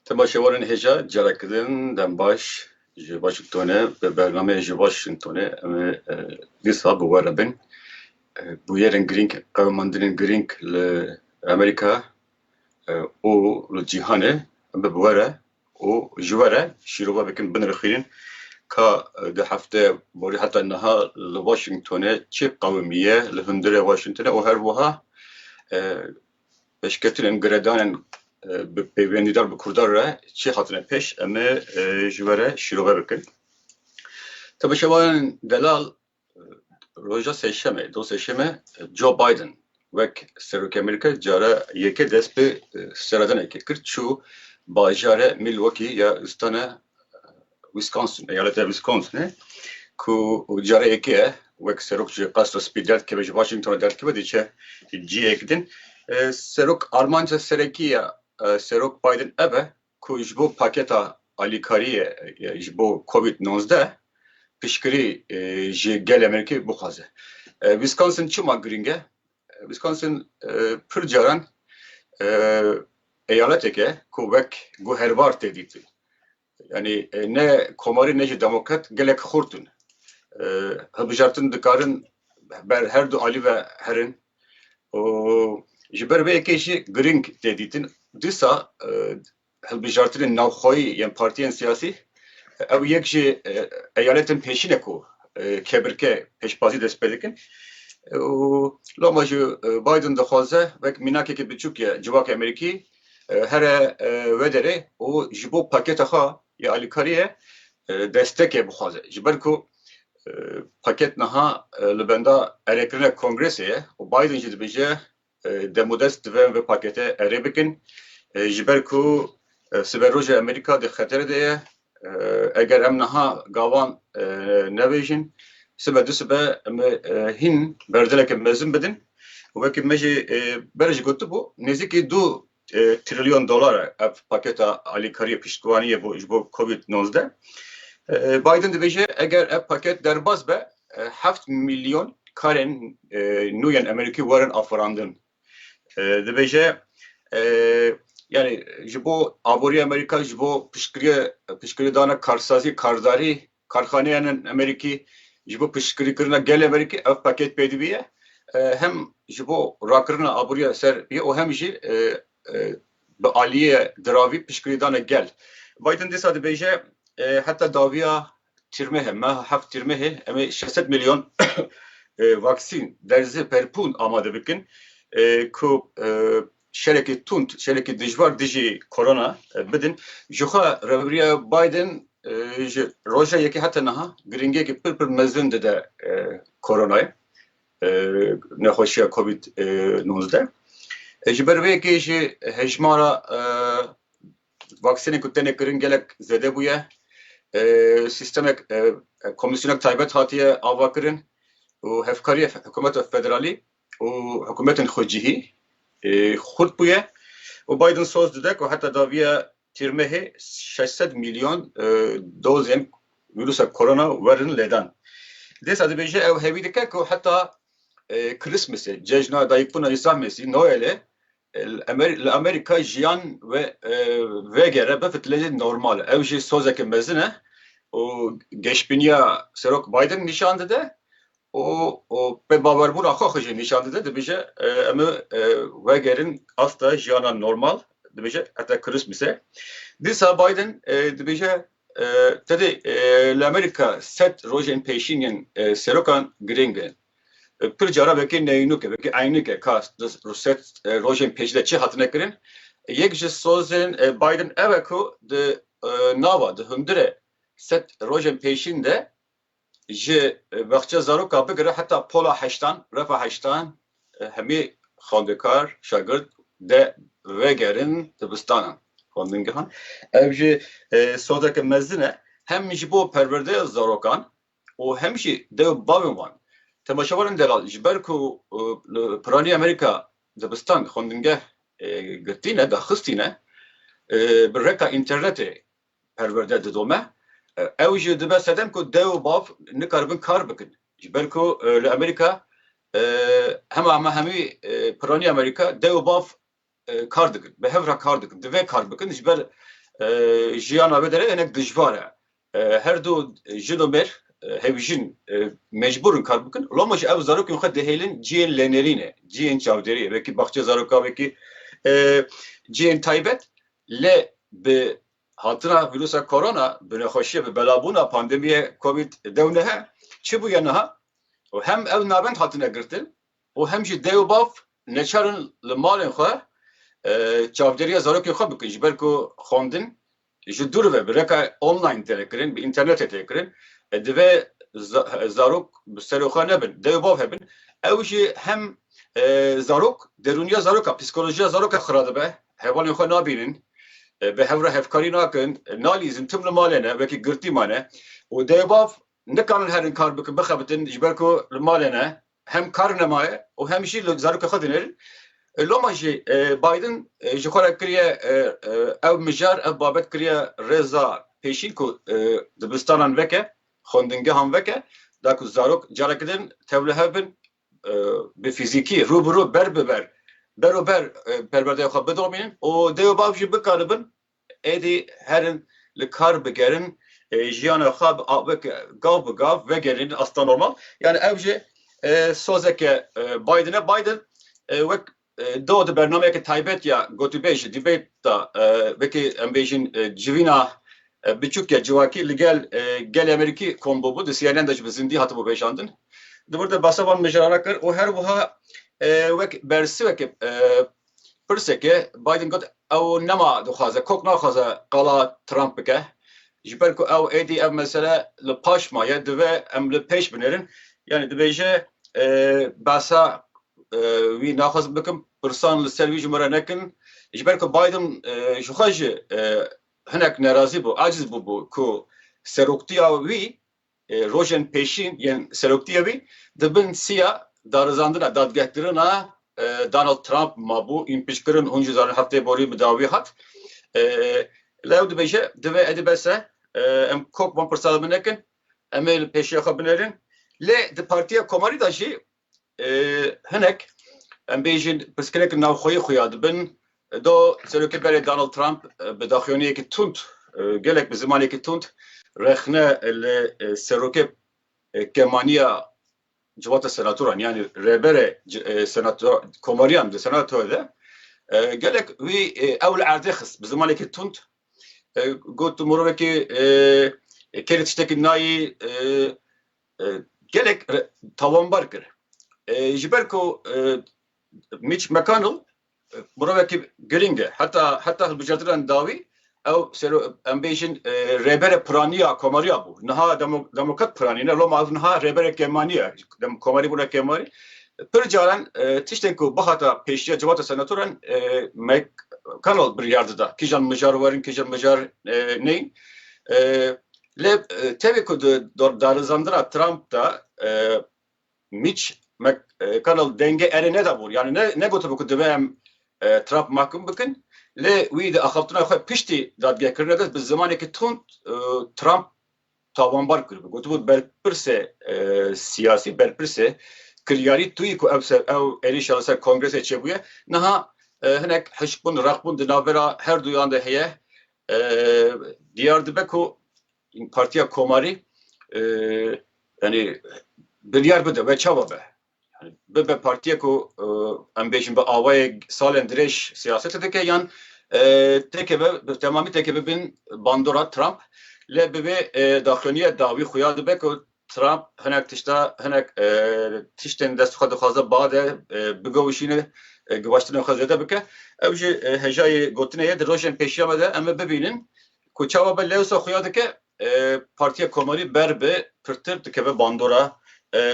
Temaşevanên hêja carekirin dem baş ji Washingtonê bi bernameyê ji Washingtonê em ê dîsa bi we re bin. Bûyerên girîng, qewimandinên girîng li Amerîka û li cîhanê em ê bi we re û ji we re şîrovavekên binirxînin ka di hefteyê borî heta niha li Washingtonê çi qewimî ye li hundirê Washingtonê û her wiha pêşketinên giredanên bi pêwendîdar bi Kurdan re çi hatine pêş em ê ji we re şîrove bikin. Tebeşevanên delal Roja Sêşemê, do Sêşemê Joe Biden wek Serokê Amerîkayê cara yekê dest bi seredanekê kir çû bajarê Milwaukee ya stana Wisconsin, eyaleta Wisconsinê ku cara yekê ye wek serok ji Qasra Spî derdkeve ji Washingtonê derdkeve diçe ciyek din. Serok armanca serekî ya Serok Biden ev e ku ji bo paketa alîkariyê ji bo covid nozdeh piştgirî ji gelê Amerîkê bixwaze. Wisconsin çima girîng e? Wisconsin pir caran eyaletêk e ku wek guherbar tê dîtin. Yanî ne komarî ne jî demokrat gelek xurt in. Hilbijartin dikarin ber her du alî ve herin. û ji ber vê yekê jî girîng tê dîtin. Dîsa hilbijartinên navxweyî yên partiyên siyasî ew yek ji eyaletên pêşî ne ku kebirke pêşbazî dest pê dikin û loma jî Biden dixwaze wek mînakekî biçûk ye civakê Amerîkî here we derê û ji bo paketa xwe ya alîkariyê destekê bixwaze ji ber ku Paket niha li benda erêkirina Kongresê ye û Biden jî dibêje demodest divê em vê paketê erê bikin ji ber ku siberoja Amerîka di xeterê de ye. Eger em niha gavan nebêjin sibe du sibe em ê hîn berdeveke mezin bidin. Wekî me jî berê jî gotibû nêzîkî du trilyon dolar e ev paketa alîkariyê piştgiwaniyê bo ji bo covid nozdeh. Biden dibêje eger ev paket derbas be heft milyon karên nû yên Amerîkî werin afirandin. Dibêje yani ji bo aboriya Amerîka ji bo piştgiriye piştgiriyê dana karsazî kardarî Karxaneyan ên Amerîkî ji bo piştgirîkirina gelê Amerîkî ev paket pê dibîye. Hem ji bo rakirina aboriya ser bîye û hem jî bi aliyê diravî piştgirîdana gel. Biden dîsa dibêje heta dawiya Tîrmehê, meha heft Tîrmehê em ê şeş sed milyon vaksîn, derzê perpûn amade bikin ku şerekî tund, şerekî dijwar dijî korona bidin. Jixwe Reveberiya Biden ji roja yekê heta niha girîngiyekî pir pir mezin dide koronayê, nexweşiya covid nozde. Ji ber vê yekê jî hejmara vaksînên ku tenê kirin gelek zêde bûye. Sîstemek komîsyonek taybet hatiye avakirin û hevkariya hikûmeta federalî û hikûmetên xwe cihî xurt bûye û Biden soz dide ku heta daviya tîrmehê şeş sed milyon dozên vîrusa korona werin lêdan. Dêsa dibêje ew hevî dike ku heta Krîsmesê, cejna Dayikbûna Îsa Mesî, Noelê Li Amerîka jiyan vegere bifitile jî normal e. Ew jî sozeke mezin e û geşbîniya Serok Biden nîşan dide û pê bawerbûna xwe xwe jî nîşan dide. Dibêje em ê wegerin asta jiyana normal dibêje heta Krîsmîsê. Dîsa Biden dibêje tedê li Amerîka sed rojên pêşîn yên serokan girîng in. Pir cara vekê neynûk e, vekê eynûk e ka Ruset rojên pêcîde çi hatine kirin. Yek ji sozên Biden ew e ku di nava, di hundirê sed rojên pêşîn de ji baxçe zaroka bigire heta pola heştan, refa heştan hemî xwendekar, şagird de vegerin dibistanan, xwendingehan. Ev jî sozeke mezin e hem ji bo perwerdeya zarokan û hem jî dew û bavên wan. Temaşevanên delal ji ber ku li Piranî Amerîka dibistan xwendingeh girtîne, daxistîne, bi reka înternetê perwerde didome, ew jî dibe sedem ku dew û bav nikaribin kar bikin. Ji ber ku li Amerîka hema hemî Piranî Amerîka dew û bav kar dikin, bi hev re kar dikin, divê kar bikin ji ber jiyana wê derê hinek dijwar e. Her du jin û mêr hevjîn mecbûr in kar bikin. Loma jî ev zarokên xwe dihêlin ciyên lênêrînê, ciyên çavdêriyê, wekî baxçeyê zarokan, wekî ciyên taybet. Lê bi hatina vîrusa korona, bi nexweşiyê, bi belabûna pandemiyê covid dew neh çi bûye niha? Hem ew navend hatine girtin, û hem jî dayî û bav neçar in li malên xwe çavdêriya zarokên xwe bikin ji ber ku xwendin ji dûr ve bi reka online têne kirin, bi înternetê tê kirin, divê zarok bi serê xwe nebin, dayî û bav hebin, ew jî hem zarok derûniya zaroka, psîkolojiya zaroka xira dibe, hevalên xwe nabînin, bi hev re hevkarî nakin, nalîzin, tim li malê ne, wekî girtî mane û dayî û bav Em nikarin herin kar bikin, bixebitin ji ber ku li malê ne, hem kar nemaye û hem jî li zarokê xwe dinêrin. Loma jî Biden ji xwe re kiriye ew mijar, ev babet kiriye rêza pêşîn ku dibistanan veke, xwendingehan veke da ku zarok careke din tevlihev bin, bi fîzîkî rû bi rû, ber bi ber, ber û ber perwerdeya xwe bidomînin û dê û bav jî bikaribin Êdî herin li kar bigerin jiyana xwe weke gav bi gav vegerînin asta normal. Yanî ew jî sozeke Biden e. Biden wek do di bernameyeke taybet ya gotûbêj debate da wekî em bêjin civîna biçûk ya civakî li gel gelê Amerîkî kom bûbû. Di CNN de jî bi zindî hatibû vejandin. Di wir de behsa van mijarana kir û her wiha wek bersiweke Pirseke, Biden got ew nema dixwaze, kok naxwaze qala Trump bike, ji ber ku ew êdî ev mesele li paş maye, divê em li pêş binêrin. Yanî dibêje behsa wî naxwazim bikim, pirsan li ser wî ji min re nekin. Ji ber ku Biden ji xwe jî hinek nerazî bû, aciz bûbû ku seroktiya wî Rojên pêşîn yên seroktiyê wî di bin siya darizandina dadgehkirina Donald Trump mabû, ên piştkirin hûn jî zanin heftê borî bi dawî hat. La ew dibêje divê êdî bes e, em kop van pirsa li bin nekin, em ê li pêşiya xwe binêrin. Lê di Partiya Komarî de jî Hinek em bêjin pirsgirêk navxweyî xuya dibin. Do Serokê berê Donald Trump bi daxuyaniyekî tund gelek bi zimanekî tund rexne li serokê kemaniya civata senatoran yanî rêberê komariyan di senato de gelek wî ew li erdê xist bi zimanekî tund got tu mirovekî kêrê tiştekî nayî gelek tawanbar kir. Ji ber ku Mitch McConnell mirovekî girîng e heta heta hilbijartinan dawî ew em bêjin rêbere piraniya komariya bû. Niha demokrat piranî ne loma ev niha rêbere kêmanî ye. Dem komarî bûne kêmarî. Pir caran tiştên ku bihata pêşiya civata senatoran McConnell biryar dida. Kîjan mijar werin kîjan mijar neyên. Lê tevî ku di darizandina Trump de Mitch McConnell dengê erê nedabû yanî negotibû ku divê em Trump mahkum bikin lê wî di axaftina xwe piştî dadgehkirina de bi zimanekî tund Trump tawanbar kiribû. Gotibû berpirsê siyasî, berpirsê kiryarî tûyî ku ew ew êrîşa li ser Kongresê çêbûye niha hinek hişkbûn, reqbûn di navbera herduyan de heye. Diyar dibe ku Partiya Komarî yanî biryar bide ve çawa be. Bibe partiyek ku em bêjin bi awayek salên dirêj siyasete dike yan têkeve bi temamî têkeve bin bandora Trump lê bi vê daxuyaniya dawî xuya dibe ku Trump hinek tişta hinek tiştên dest xwe dixwaze bade bigovişîne givaştina xwe zêde bike. Ew jî hejayê gotinê ye di rojên pêşiya me de em ê bibînin ku çawa be lewsa xuya dike Partiya Komarî ber bi pirtir dikeve bandora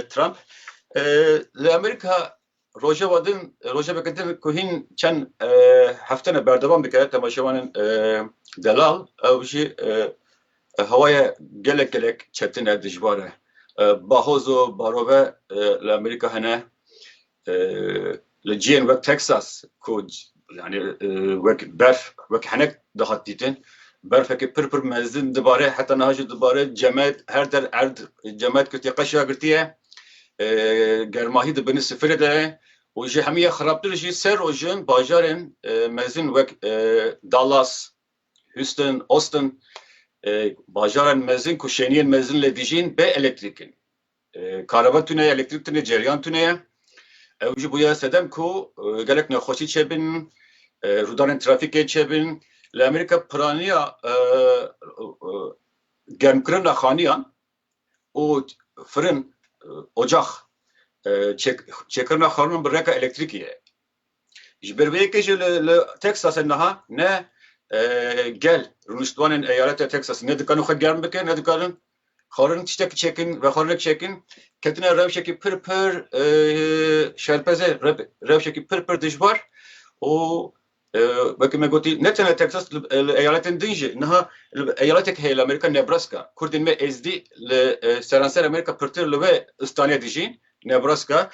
Trump. Li Amerîka Rojeva din, rojeveke din ku hîn çend heftene berdewam dike temaşevanên delal ew jî hewaye gelek gelek çetin e, dijbar e. Bahoz û barove li Amerîka hene, li ciyên wek Texas ku Yanî wek berf wek henek dihat dîtin berfekê pir pir mezin dibare heta niha jî dibare cemet her der erd cemet girtiye qeşa girtiye germahî di binî sifirê de û ji hemûye xirabtir jî ser rojin bajarên mezin wek Dallas, Houston, Austin bajarên mezin ku şêniyên mezin lê dijîn bê elektrîk in. Kareba tune ye, elektrîk tune, ceryan tune ye. Ew jî bûye sedem ku gelek nexweşî çêbin, rûdanên trafîkê çêbin. Li Amerîka piraniya germkirina xaniyan û firin, ocax çêkirina xaniyan bi reka elektrîkê ye. Ji ber vê yekê jî li Teksasê niha ne gel rûniştvanên eyaletê Teksasê ne dikarin xwe germ bikin, ne dikarin xwarin tiştek çêkin, vexwarinek çêkin, ketine rewşekî pir pir şerpezê, rewşekî pir pir dijwar û wekî me gotî ne tenê Teksas li eyaletên din jî niha li eyaletek heye li Amerîka Nebraska, Kurdên me Êzdî li seranser Amerîka pirtir li wê stranê dijîn. Nebraska,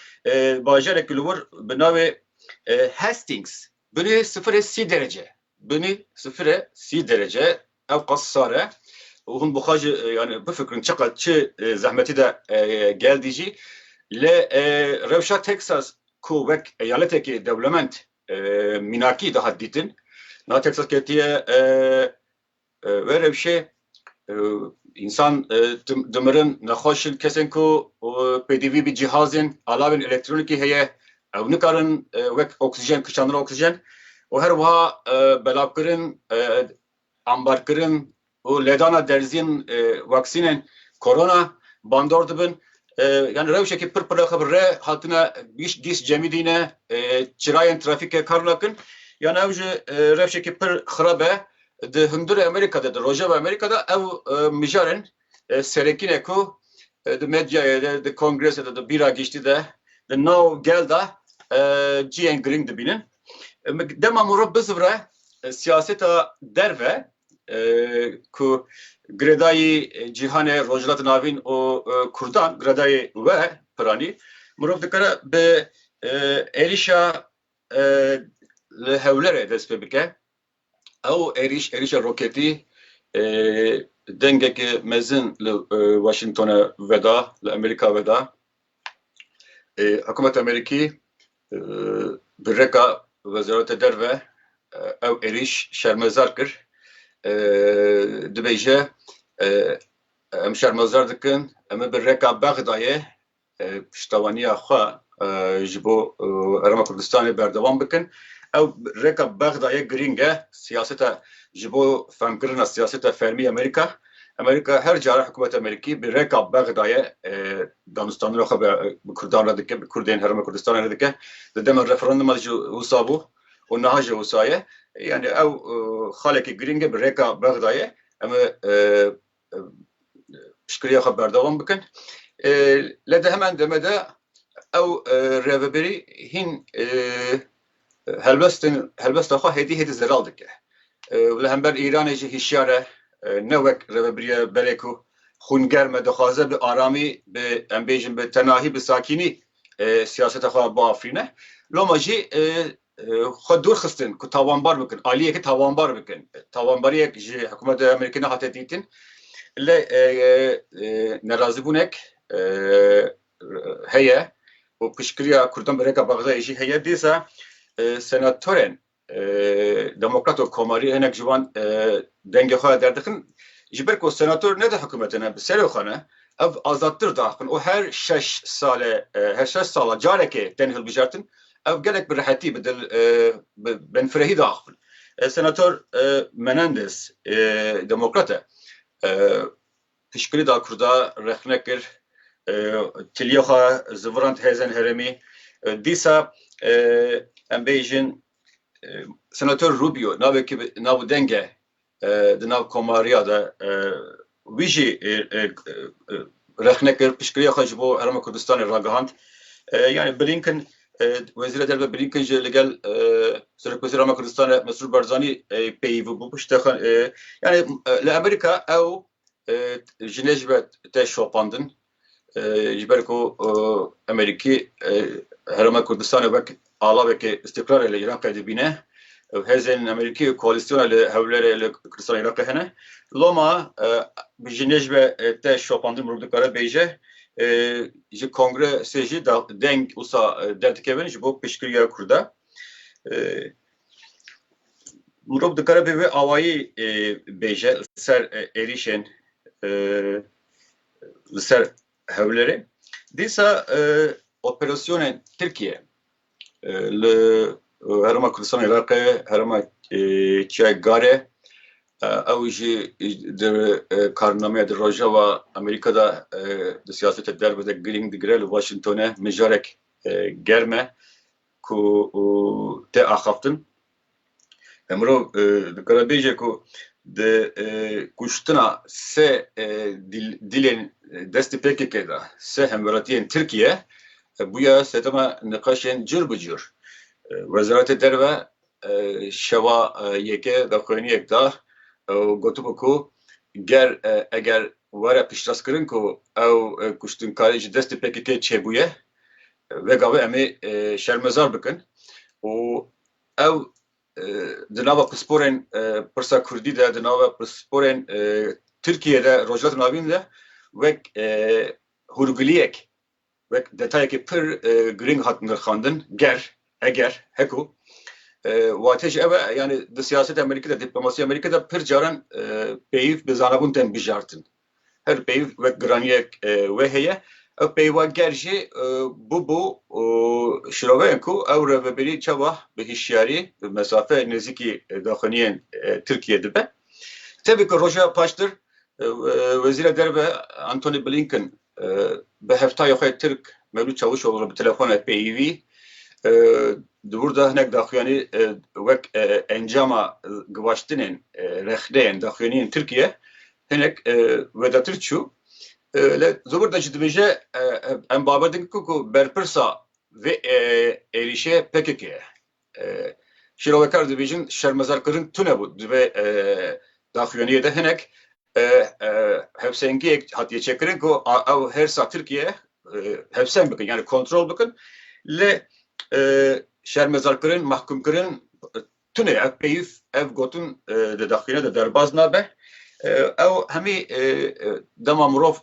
bajarek li wir bi navê Hastings binê sifirê sî derece. Binê sifirê sî derece ewqas sar e. û hûn bixwe jî yani bifikirin çiqad çi zehmetî de geldî jî li rewşa Texas ku wek eyaletekê dewlemend mînakî dihat dîtin. Na Texas ketiye We rewşê însan dimirin nexweş in kesên ku pêdivî bi cîhazên alavên elektronikî heye ew nikarin wek oksijen kişandina oksijen û her wiha belavkirin ambarkirin û ledana derzîn waksînên korona bandor dibin Yani rewşekî pir piraxe bi re hatine gîş gîş cemî dîne çirayên trafîke kar nakin yan ew ji rewşekî pir xirab e di hundirê Amerîka de di rojeva Amerîka de ew mijarên serekî ne ku di medyayê de di kongrese de di bîra gîştî de di nav gel de ciyên girîng dibînin dema morob bizivre siyaseta derve ku girêdayî cîhanê Rojhilatê Navîn û Kurdan girêdayî we piranî mirov dikare bi êrîşa li Hewlerê dest pê bike. Ew êrîş êrîşa roketî dengeke mezin li Washingtonê veda, li Amerîka veda. Hikûmeta Amerîkî bi rêka Wezareta Derve ew êrîş şermezar kir. Dibêje em şermezar dikin, em ê bi rêka Bexdayê piştevaniya xwe ji bo Herêma Kurdistanê berdewam bikin. Ew rêka Bexdayê girîng e siyaseta ji bo fehmkirina siyaseta fermî Amerîka. Amerîka her care hikûmeta Amerîkî bi reka Bexdayê danistanina xwe bi Kurdan re dike, bi Kurdên Herêma Kurdistanê re dike. Di dema referanduma de jî wisa bû û niha jî wisa ye. Yanî ew xalekî girîng e bi reka Bexdayê em ê piştgiriya xwe berdewam bikin. Lê di heman demê de ew rêveberî hîn Helbestên helbesta xwe hêdî hêdî zelal dike û li hember Îranê jî hişyar e, ne wek rêvebiriya berê ku xûn germ e, dixwaze bi aramî, bi em bêjin bi tenahî, bi sakînî siyaseta xwe biafirîne. Loma jî xwe dûr xistin ku tawanbar bikin, aliyekî tawanbar bikin. Tawanbariyek ji hikûmeta Amerîkî nehate dîtin. Lê nerazîbûnek heye û piştgiriya Kurdan bi rêka Bexdayê jî heye, dîsa senatorên demokrat û komarî hinek ji wan dengê xwe derdixin. Ji ber ku senator ne di hikûmetê ne, bi serê xwe ne, ev azadtir diaxivin û her şeş sale, her şeş sala carekê tên hilbijartin, ev gelek bi rehetî, bi dil, bi benfirehî diaxivin. Senator Menendez demokrat e. Piştgirî da Kurda rexne kir tiliyê xwe zivirand hêzên herêmî. Dîsa em bêjin Senator Rubio navekî bi nav û deng e di nav komariya de wî jî rexne kir piştgiriyê xwe ji bo Herêma Kurdistanê ragihand. Yanî Blinken Wezîra Derve Blinken jî li gel Serokwezîra me Kurdistanê Mesrûr Barzanî peyivî bû bi ştexan yani li Amerîka ew jinê ji be te şopandin ji ber ku Amerîkî Herêma Kurdistanê wek alavekê îstîqlalê li Îraqê dibîne ew hêzên Amerîkî koalîsyona li hewlêrê li Kurdistanê Îraqê hene loma bi jinê ji be te şopandin mirov dikare bêje ji kongresê jî deng wisa derdikevin ji bo piştgiriya Kurda. Mirov dikare bê wê awayî bêje li ser êrîşên li ser Hewlêrê. Dîsa operasyonên Tirkiye Li Herêma Kurdistana Iraqê herêma çiya Garê ew jî di karnameya di Rojava Amerîka de di siyaseta derve de girîng digire li Washingtonê mijarek germ e ku tê axaftin. Mirov dikare bêje ku di kuştina sê dilên destê PKK de sê hemwelatiyên Tirkiye bûye sedema niqaşên cur bi cur. Wezaretê Derve şewa yekê daxuyaniyek da û gotibû ku ger eger were piştastkirin ku ew kuştinkarî ji destê PKK çêbûye, vegavê em ê şermezar bikin û Ew di nava pisporên pirsa Kurdî de, di nava pisporên Tirkiyeyê de, Rojhilatên Avîn de wek hûrgiliyek, wek detayekî pir girîng hat nirxandin, ger, eger, heko. Watê jî ew e, yanî di siyaseta Amerîkî de, dîplomasîya Amerîkî de pir caran pêyîv bi zanabûn tên bijartin. Her peyv wek giraniyek wê heye. Ew peyva ger jî bûbû şiroveyên ku ew rêvebirî çawa bi hişyarî bi mesafe nêzîkî daxuyaniyên Tirkiyeyê dibe. Tevî ku roja paştir Wezîra Derve Antony Blinken bi heftaya xwe Tirk Mevlût Çavuşoglu bi telefona peyivî di wir de hinek daxuyanî wek encama givaştinên rexneyên daxuyaniyên Tirkiye Hinek wedatir çû li zobor de jî dibêje em babet din ku berpirsa vê êrîşê pkk ye. Şîrovekar dibêjin şermezarkirin tune bû di vê daxuyaniyê de hinek hevsengiyek hatiye çêkirin ku ew hêrsa Tirkiye hevseng bikin yanî kontrol bikin lê şermezarkirin, mahkumkirin Tune ev peyv, ev gotin di daxîne de derbaz nabe. Ew hemî dema mirov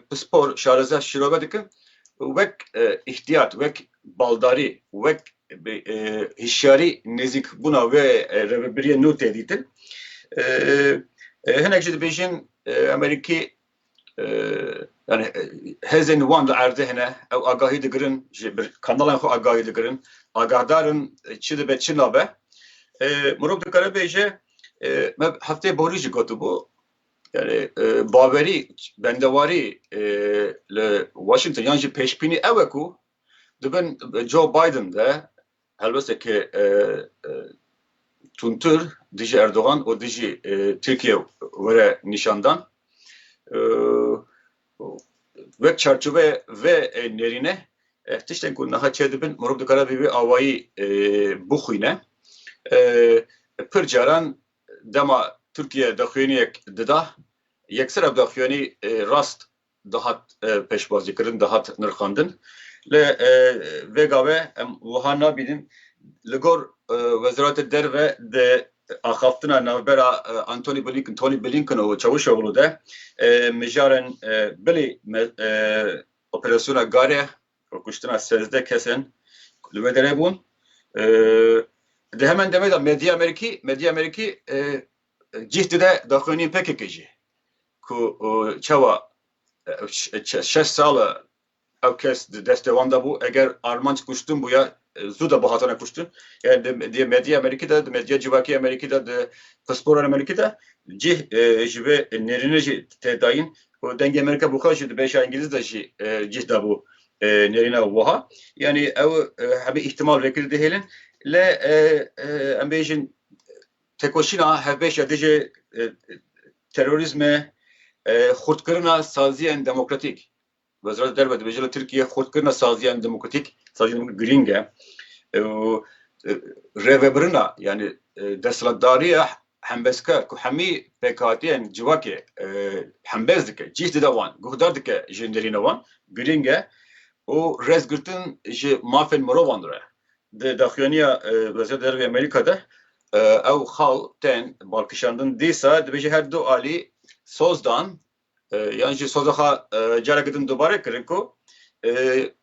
pispor şareze şîrove dikin wek îhtiyat, wek baldarî, wek hişyarî nêzîkbûna wê rêvebiriyê nû tê dîtin. Hinek jî dibêjin Amerîkî yani hêzên wan li erdê hene ew agahî digirin ji bir kanalên xwe agahî digirin agahdar in çi dibe çi nabe mirov dikare bêje me heftê borî jî gotibû yani bawerî bendewarî li Washington yan jî pêşbînî ew e ku dibin Joe Biden de Helbesteke tundtir dijî Erdogan û dijî Tirkiye were nîşandan. Wek çarçoveya ve nêrîne tiştên ku niha çêdibin mirov dikare bi vê awayî bixwîne. Pir caran dema Tirkiye daxuyaniyek dida, yekser ev daxuyanî rast dihat pêşbazîkirin, dihat nirxandin. Lê vêga ve em wiha nabînin, li gor Weziratê Derve di axaftina navbera Antony Blinken, Tony Blinken û Çavuşoglu de mijarên bilî operasyona Gare û kuştina sezdeh kesên ku li wê derê bûn. Di heman demê de medya Amerîkî, medya Amerîkî cih dide daxuyaniyên PKK'ê jî. ku çawa şeş sal e ew kes di destê wan de bû, eger armanc kuştin bûye zû de bihatine kuştin. Yani di medyaya Amerîkî de, di medyaya civakî Amerîkî de, di pisporan Amerîkî de cih ji vê nêrînê jî tê dayîn û dengê Amerîka bi xwe jî di bêşa Îngîlîz de jî cih dabû nêrîna wiha. Yani ew hemî îhtimal vê kirî dihêlin. Lê em bêjin Têkoşîna hevbeş ya dijî terorîzmê xurtkirina saziyên demokratîk. Wezareta Derve dibêje li Tirkiyeyê xurtkirina saziyên demokratîk girîng e û rêvebirina yanî desthilatdariya hembezkar ku hemî pêkhatiyên civakê hembez dike, cîh dide wan, guhdar dike ji nêrîna wan girîng e û rêzgirtin ji mafên mirovan re Di daxuyaniya Wezîra Derve ya Amerîka de ew xal tên balkişandin dîsa dibêje her du alî soz dan yan jî soza xwe careke din dubare kirin ku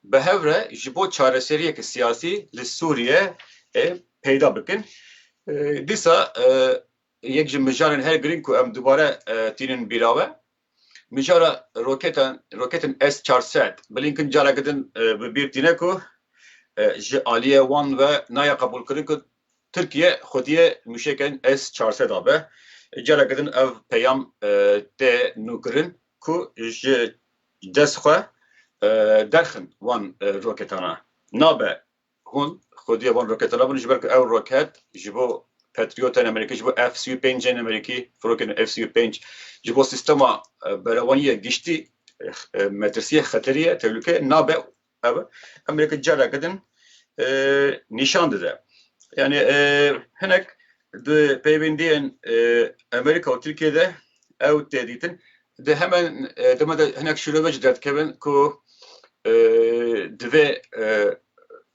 bi hev re ji bo çareseriyeke siyasî li Sûriye peyda bikin. Dîsa yek ji mijarên her girîng ku em dubare tînin bîra we Mijara roketan roketên S çar sed Blinken careke din bi bîr tîne ku ji aliyê wan ve nayê qebûlkirin ku Tirkiye xwediyê mûşekên S çar sed abe. Careke din ev peyam tê nûkirin ku ji dest xwe derxin wan roketana. Nabe Hûn xwedî van rokete labin ji ber ku ew roket ji bo Patriotên Amerîkî, ji bo F-35'ên Amerîkî, firokên F-35 ji bo sîstema berevaniyê giştî metirsiyê xeteriyê tehlûke nabe ev Amerîka careke din nîşan dide. Yani hinek Di peywendiyên Amerîka û Tirkiyê de ew tê dîtin. Di heman dema de hinek şîrove jî derdikevin ku divê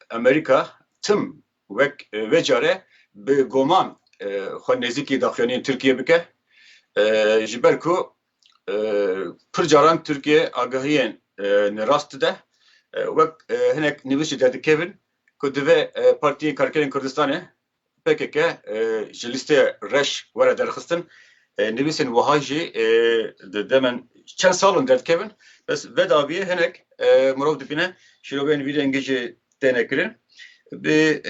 Amerîka tim wek vê care bi goman xwe nêzîkî daxuyaniyên Tirkiyê bike ji ber ku pir caran Tirkiye agahiyên nerast dide. Wek hinek nivîs jî derdikevin ku divê Partiyên Karkerên Kurdistanê pkk ji lîsteya reş were derxistin nivîsên wiha jî di demen çend salin derdikevin bes vedaviyê hinek mirov dibîne şîroveyên vî rengî jî têne kirin bi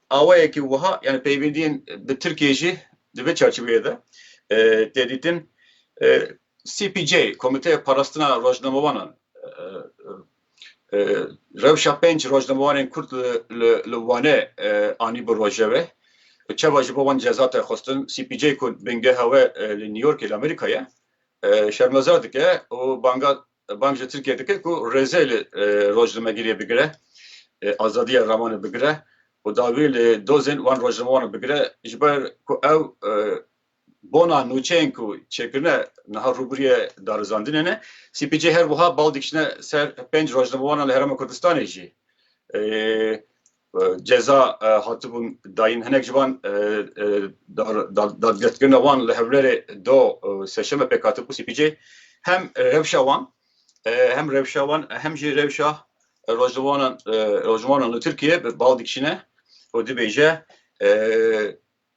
awayekî wiha yani peyvîndiyên bi Tirkiyê jî di vê çarçiveyê de tê dîtin CPJ Komîteya Parastina Rojnamewanan Rewşa pênc rojnamewarên Kurd li Wanê anîbû rojevê û çawa ji bo wan ceza tê xwestin, CPJ ku bingeha we li New Yorkê li Amerîka ye şermezar dike û banga bang ji Tirkiyê dike ku rêzê li rojnamegiriyê bigire, azadiya ramanê bigire û dawî li dozên wan rojnamewaran bigire ji ber ku ew Bona nûçeyên ku çêkirine niha rûbirûyê darizandinê ne. CPJ her wiha bal dikişine ser pênc rojnamewanan li Herêma Kurdistanê jî. Ceza hatibûn dayîn hinek ji van dadgirtkirina wan li Hewlêrê do sêşeme pêk hatibû. CPJ hem rewşa wan hem rewşa wan hem jî rewşa rojnamewanan li Tirkiyê bal dikişine û dibêje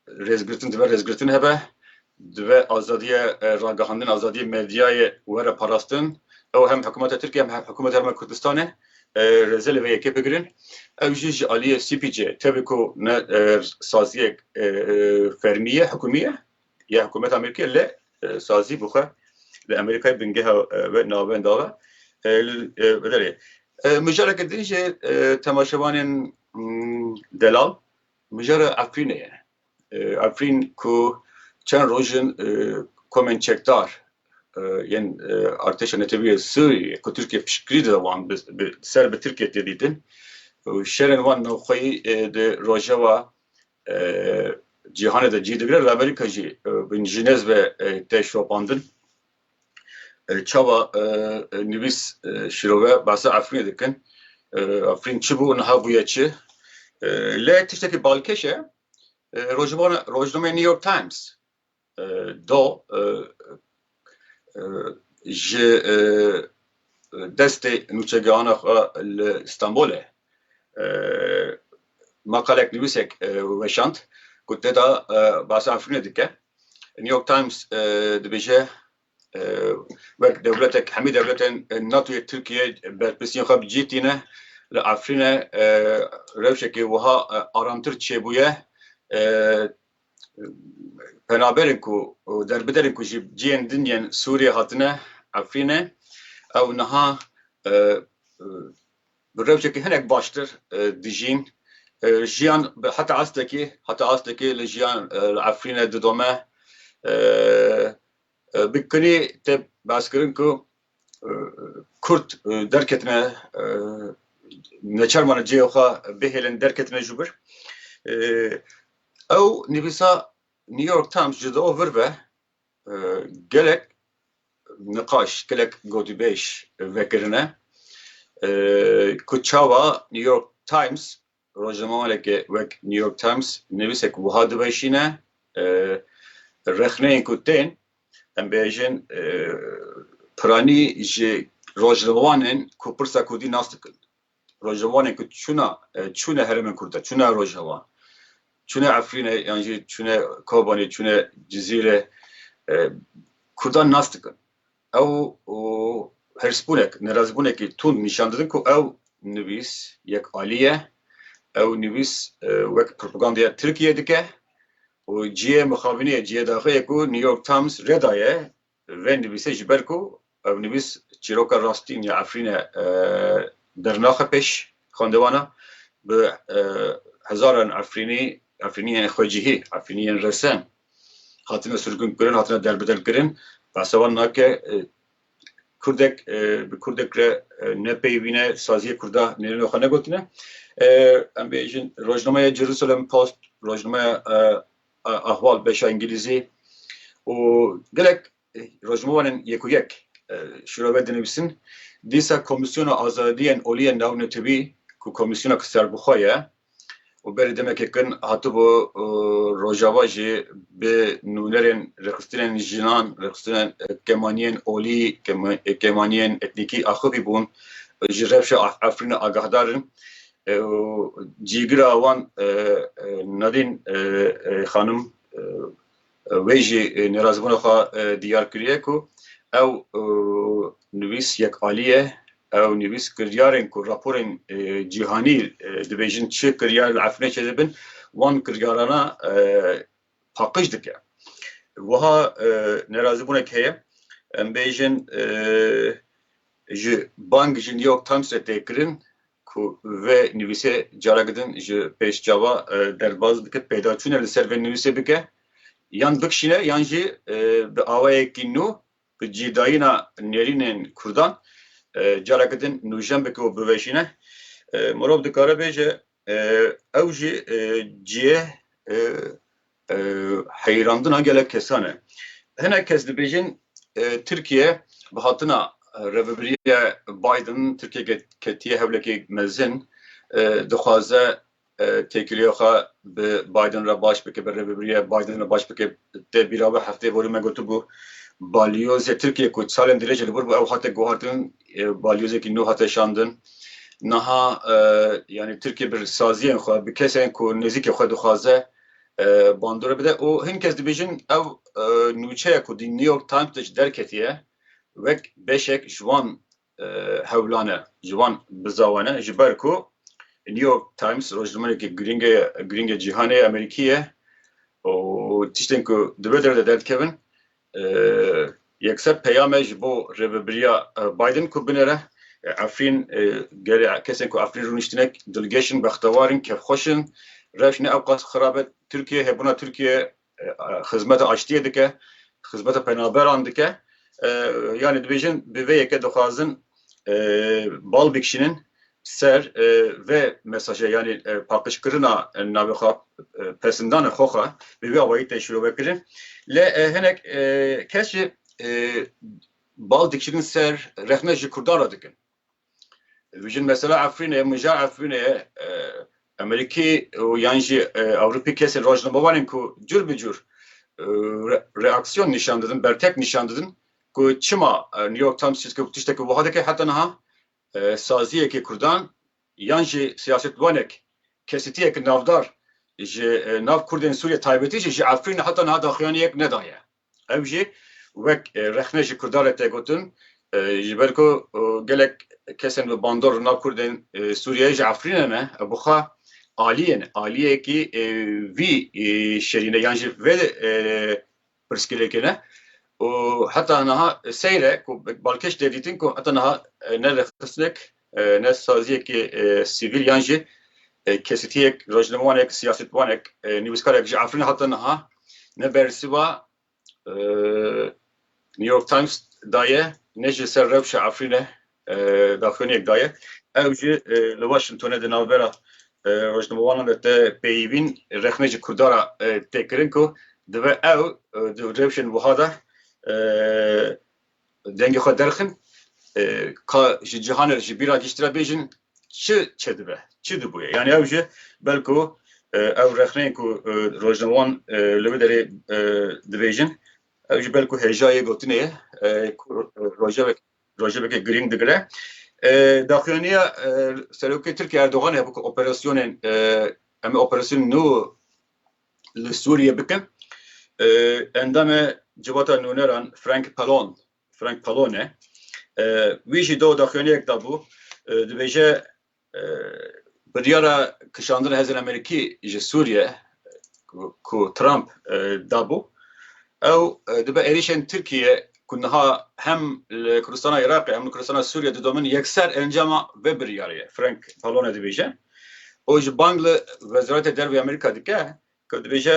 Rêzgirtin dibe rêzgirtin hebe, dibe azadiya e, ragihandin, azadiya medyayê were parastin. Ew hem hikûmeta Tirkiye hem hikûmeta Herêma Kurdistanê e, rêzelê vê yekê bigirin. Ew jî ji aliyê CPC'ê tevî ku ne e, saziyek e, e, fermî ye, hikûmî ye ya hikûmeta Amerîkayê lê e, sazî bi xwe li Amerîkayê bingeha e, ve navenda ve e, li e, biderê. E, Mijareke din jî e, temaşevanên mm, delal Mijara Efrînê ye. Efrîn ku çend roj in komên çekdar yên Artêşa Netewî yê Sûriyeyê ku Tirkiye piştgirî dide wan bi ser bi Tirkiye tê dîtin û şerên wan navxweyî di rojava cîhanê de cî digire li Amerîka jî bi jinêz ve tê şopandin. Çava nivîs şirove bahsa Efrînê dikin. Efrîn çi bû niha bûye çi? Lê tiştekî balkêş e. Rojibana rojnameyê New York Times do ji destê nûçegehana xwe li Stenbolê maqalek nivîsek weşand ku tê de bahsa Efrînê dike. New York Times dibêje, wek dewletek hemî dewletên NATO'yê Tirkiye berpirsiyên xwe bi cî tîne. Li Efrînê rewşekê wiha aramtir çêbûye. Penaberên ku û derbiderên ku ji ciyên din yên Sûriyê hatine Efrînê ew niha bi rewşekî hinek baştir dijîn. Jiyan heta astekî heta astekî li jiyan li Efrîne didome. Bi kinî tê behskirin ku Kurd derketine neçar mane cihê xwe bihêlin derketine jû bir. Ew nivîsa New York Times ji do vir ve Gelek niqaş, gelek gotûbêj vekirine ku çawa New York Times, rojnamewaneke wek New York Times nivîsek wiha diweşîne, Rexneyên ku tên, em bêjin piranî ji rojnamewanên ku pirsa kurdî nas dikin. Rojhevanê ku çûna çûne herêmên Kurd de, çûne Rojhevan, çûne Efrîne yan jî çûne Kobanê, çûne Cizîre Kurdan nas dikin. Ew hirsbûnek, nerazîbûnekî tund nîşan didin ku ew nivîs yek alî ye, ew nivîs wek propagandaya Tirkiyeyê dike û cihê mixabînê ye, cihê daxê ye ku New York Times re daye Li vê nivîsê ji ber ku ev nivîs çîroka rastîn ya Efrînê dernaxe pêş xwendewana, bi hezaran Efrînî, Efrîniyên xwecihî, Efrîniyên resen hatine sirgûnkirin, hatine derbedelkirin, behsa wan nake Kurdek bi Kurdek re nepeyivîne, saziyê Kurda nêrîna xwe negotine. Em bêjin rojnameya Jerusalem Post, rojnameya ahval beşa îngilîzî û gelek rojnamewanên yek û yek şûra ve dinivîsin. Dîsa Komîsyona Azadiyên Olî yên navê netibî ku komîsyona ku serbixwe ye û berî demekê kin hatibû Rojava jî bi nûnerên rêxistinên jinan, rêxistinên kemaniyên olî, kemaniyên etnîkî axivî bûn ji rewşa Efrînê agahdar in. û cîgira wan Nadîn xanim wê jî nêrazîbûna xwe diyar kiriye ku ew nivîs yek alî ye, ew nivîs kiryarên ku raporên cîhanî dibêjin çi kiryar li Efrînê çêdibin wan kiryarana paqij dike. Wiha nêrazîbûnek heye em bêjin ji bang ji New York Times re tê kirin ku vê nivîsê careke din ji pêş çawa derbaz bike, pêdaçûne li ser vê nivîsê bike, yan bikişîne yan jî bi awayekî nû bi cîdayîna nêrînên Kurdan careke din nûjen bike û biweşîne. Mirov dikare bêje ew jî cihê Heyrandina gelek kesan e. Hinek kes dibêjin Tirkiye bi hatina Rêvebirîya Biden Tirkiye ketiye hewlekê mezin dixwaze têkiliya xwe bi Biden re baş bike, bi Rêvebirîya Biden re baş bike. Te bîra wê hefteyê borî me gotibû balyozê Tirkiye ku salên dirêj li vir bû ew hate guhartin, balyozekî nû hate şandin. Niha yanî Tirkiye bi saziyên xwe, bi kesên ku nêzîkê xwe dixwaze, bandore bide û hin kes dibêjin ew nûçeya ku di New York Times de jî derketiye wek beşek ji wan hewlan e, ji wan bizawan e ji ber ku New York Times rojnamerekî girîng e, girîng e cîhanê, Amerîkî ye û tiştên ku di vê derve de derdikevin Yekser peyame ji bo Rêvebiriya Biden ku binêre Efrîn gelê kesên ku Efrîn rûniştine dilgeş in, bextewar in, kevxweş in. Rewş ne ewqas xirab e. Tirkiye hebûna Tirkiye xizmeta aştiyê dike, xizmeta penaberan dike. Yanî dibêjin bi vê yekê dixwazin bal bikişînin ser vê mesajê yanî paqijkirina navê xwe pesindana xwe xwe bi vî awayî tê şirovekirin lê hinek kes jî bal dikirin ser rexne ji Kurdan re dikin. Dijin mesela Efrînê min ja Efrînê Amerîkî û yan jî Ewropî kesên rojnamevanên ku cur bi cur reaksiyon nîşan didin, bertek nîşan didin ku çima New York Times tiştekî wiha dike heta niha saziyekî kurdan yan jî siyasetwanek, kesitiyek navdar ji nav kurdên Sûriyê taybetî jî ji Efrînê heta niha daxuyanî yek nedaye. Ew jî wek rexne ji kurdan re tê gotin ji ber ku gelek kesên bi bandor li nav kurdên Sûriyeyê ji Efrînê ne ew bi xwe aliyên aliyekî vî şerî ne yan jî vê pirsgirêkê ne û heta niha seyr e ku balkêş tê dîtin ku heta niha ne rêxistinek ne saziyekî sivîl yan jî kesîtiyek rojnamewanek siyasetwanek nivîskarek ji Efrînê heta niha ne bersiva New York Times daye ne ji ser rewşa Efrînê daxuyaniyek daye. Ew jî li Washingtonê di navbera rojnamevanan de tê peyivîn rexne ji Kurdan re tê kirin ku divê ew di rewşên wiha de dengê xwe derxin ka ji cîhanê ji bîra giştî re bêjin çi çêdibe, çi dibûye. Yanî ew jî belku ew rexneyên ku rojnamevan li vê derê dibêjin ew jî belku hêja yê gotinê ye ku rojevek rojevekê girîng digire. Daxuyaniya Serokê Tirkiyê Erdogan heye ku operasyonên em ê operasyonên nû li Sûriyê bikin. Endamê Civata Nûneran Frank Pallone Frank Pallone wî jî do daxuyaniyek dabû dibêje Biryara kişandina hêzên Amerîkî ji Sûriye ku Trump dabû, ew dibe êrîşên Tirkiye ku niha hem li Kurdistana Iraqê hem li Kurdistana Sûriye didomin yekser encama vê biryarê ye. Frank Pallone dibêje û ji bang li Wezaretê Derve ya Amerîka dike ku dibêje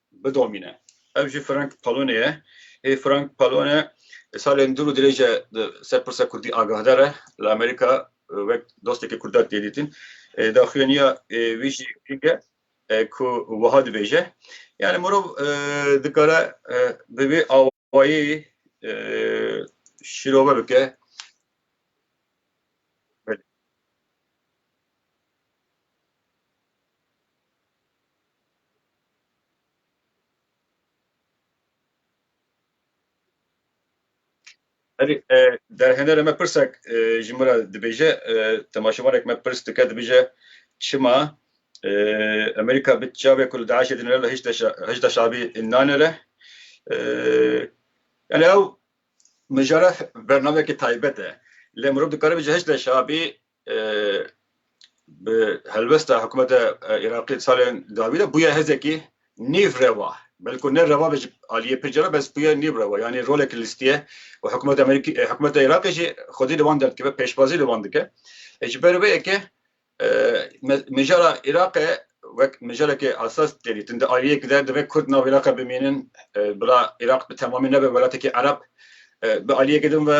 bidomîne. Ev jî Frank Pallone ye. Hê Frank Pallone salên dûr û dirêj e di ser pirsa kurdî agahdar e. Li Amerîka wek dostekî kurdan tê dîtin. Daxuyaniya wî jî girîng e ku wiha dibêje, yanî mirov dikare bi vê payê şîrove bike. Erê derhener e me pirsek ji min re dibêje temaşevaneke me pirs dike dibêje çima Amerîka bi çavê ku li DAIŞ'ê dinire li Hişda Şabî nanire. Yani ew mijara bernameyekî taybet e. Lê mirov dikare bêje Hişda Şabî bi helwesta hikûmeta Iraqî salên dawî de bûye hêzekî nîv rewa. Belku ne rewa be ji aliyê pir cara bes bûye nîv rewa. Yani rolek lîstiye û hikûmeta Amerîkî hikûmeta Iraqê jî xwedî li wan derdikeve, pêşwazî li wan dike. Ji ber wê yekê Mijara Îraqê wek mijarekê esas didîtin. Di aliyek de divê Kurd nav Îraqê bimînin bila Îraq bi temamî nebe welatekî Ereb. Bi aliyekê din ve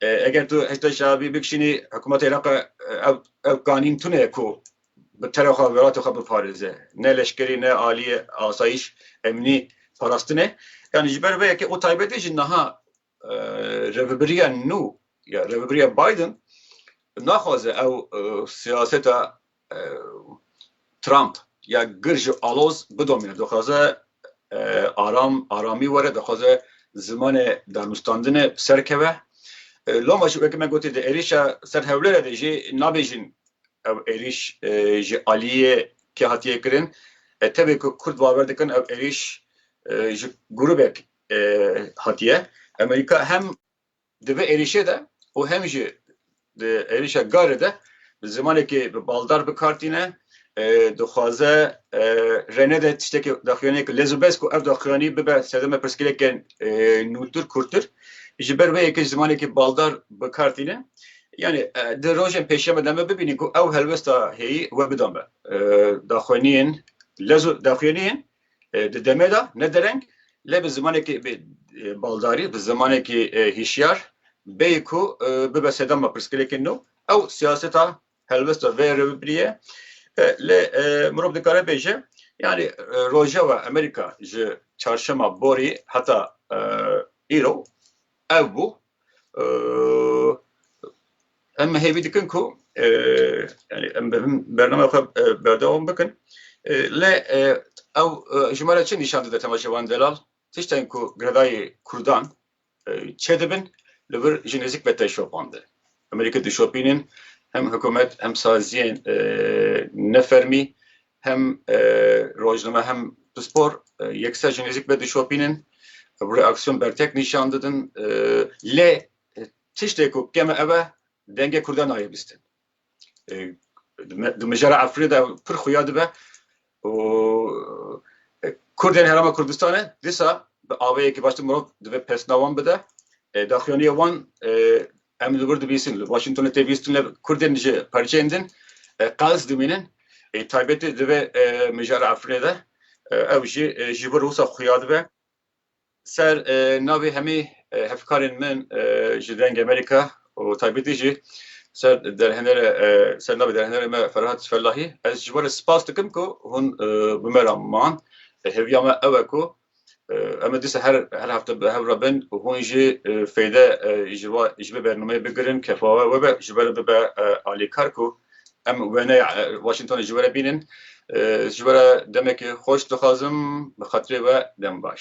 eger tu Hişda Şeabî bikişînî hikûmeta Îraqê ew ew kanîn tune ye ku bi terê xwe welatê xwe biparêze. Ne leşkerî ne aliyê asayîş, emnî parastin e. Yanî ji ber vê yekê û taybetî jî niha rêvebiriya nû ya rêvebiriya Biden naxwaze ew siyaseta Trump ya gir ji aloz bidomîne. Dixwaze aram aramî were, dixwaze zimanê danûstandinê bi ser keve. Loma jî weke me gotî di êrîşa ser Hewlêrê de jî nabêjin ew êrîş ji aliyê kê hatiye kirin. Tevê ku Kurd bawer dikin ew êrîş ji grûbek hatiye. Amerîka hem di vê êrîşê de û hem jî di êrîşa Garê de bi zimanekî bi baldar bi kar tîne, dixwaze rê nede tiştekî daxuyaniyê ke lez û bez ku ev daxuyanî bibe sedema pirsgirêkê nûtir kurtir. Ji ber wê yekê ji zimanekî baldar bi kar tîne. Yanî di rojên pêşeme de me bibînî ku ew helwesta hêyî we bida me. Daxuyaniyên lez û daxuyaniyên Di demê de ne dereng lê bi zimanekî baldarî, bi zimanekî hîşyar bêyî ku bibe sedema pirsgirêkên nû ew siyaseta helwesta vê rewbirîye lê mirov dikare bêje yanî Rojava Amerîka ji çarşema borî heta îro ev bû em hêvî dikin ku em bername xwe berdewam bikin lê ew ji me re çi nîşan dide tema Şevan Delal tiştên ku girêdayê Kurdan çê dibin li vir ji nêzik ve tê şopandin em rê dişopînin hem hikûmet hem saziyên nefermî Hem rojname hem pispor yek ser ji nêzîk vedişopînin û bi reaksiyon bertek nîşan didin. Lê tiştê ku kem e ev e dengê Kurdan nayê bîstin. Di mijara Efrînê de pir xuya dibe û Kurdên Herêma Kurdistanê dîsa bi avêyekî baştir mirov divê pesna wan bide. Daxuyaniyê wan Em li wir dibîsin, li Washingtonê tê bîstin lê Kurdên ji parçeyên din qels dimînin. Ê taybetî di vê mijara Efrînê de ew jî ji vir wisa xuya dibe. Ser navê hemî hevkarên min ji Dengê Amerîka û taybetî jî ser derhenere ser navê derhenere me Ferhat Fellahî ez ji wan re spas dikim ku hûn bi me re man. Hêviya me ew e ku Em ê dîsa her her hefte bi hev re bin û hûn jî feyde ji va ji vê bernameyê bigirin kefawe we be ji we re bibe alîkar ku em wêneya Washingtonê ji we re bînin. Ji we re demekê xweş dixwazim bi xatirê we dem baş.